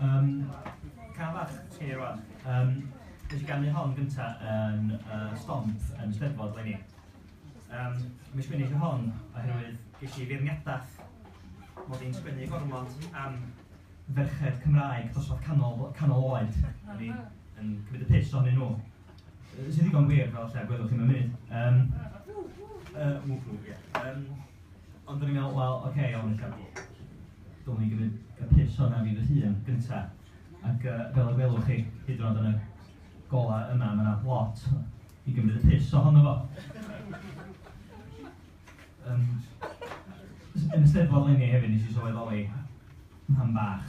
Um, Cafach, ti rwan. Um, Nes i gannu hon gynta yn uh, stomp yn y steddfod lenni. Um, Mae sgwini chi hon oherwydd ges i feirniadaeth mod i'n sgwini gormod am ferched Cymraeg dosbarth canol, canol oed. O'n i'n cymryd y piss ohonyn nhw. Sy'n ddigon wir, fel lle gwelwch chi mewn munud. Um, uh, ww, ww, ie. Um, ond dwi'n meddwl, wel, oce, okay, iawn, eich Dwi'n ni gymryd y pus hwnna fi fy hun gyntaf. Ac uh, fel y gwelwch chi, hyd yn oed yn y gola yma, mae yna lot i gymryd y pus ohono fo. Um, yn y steddfod lenni hefyd nes i sylweddoli pan bach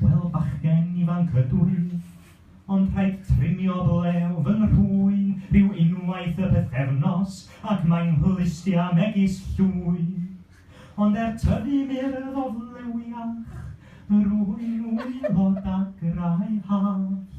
Wel bachgen ifanc ydw i, ond rhaid trimio blew fy nhrwyn ryw unwaith y pythefnos ac mae'n hwlustia megis llwyn. Ond er tyfu murdd o flewiach, rwy'n wylo dagrau hallt.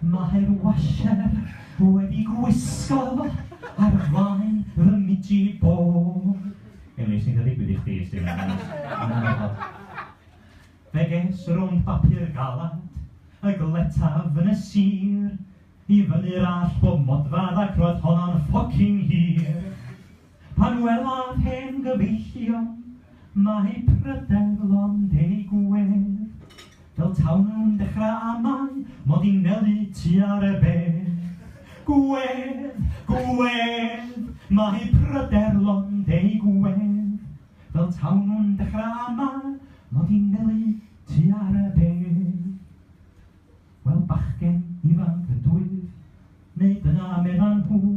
Mae'r washer wedi gwisgo ar flaen fy miji bo. Elin, sy'n ddigwydd i chdi i sti? Fe ges rownd bapur galad y gletaf yn y sir i fyny'r allt bob modfadd ac roedd honno'n ffocin hir. Pan welaf hen gyfeillion, mae pryder lond eu gwedd, Fel taw nhw'n dechra amau 'mod i'n nelu tua'r erbedd. Gwedd! Gwedd! Mae pryder lond eu gwedd, Fel taw nhw'n dechra amau 'mod i'n nelu tua'r erbedd. Wel, bachgen ifanc ydwyf, neu dyna meddan nhw,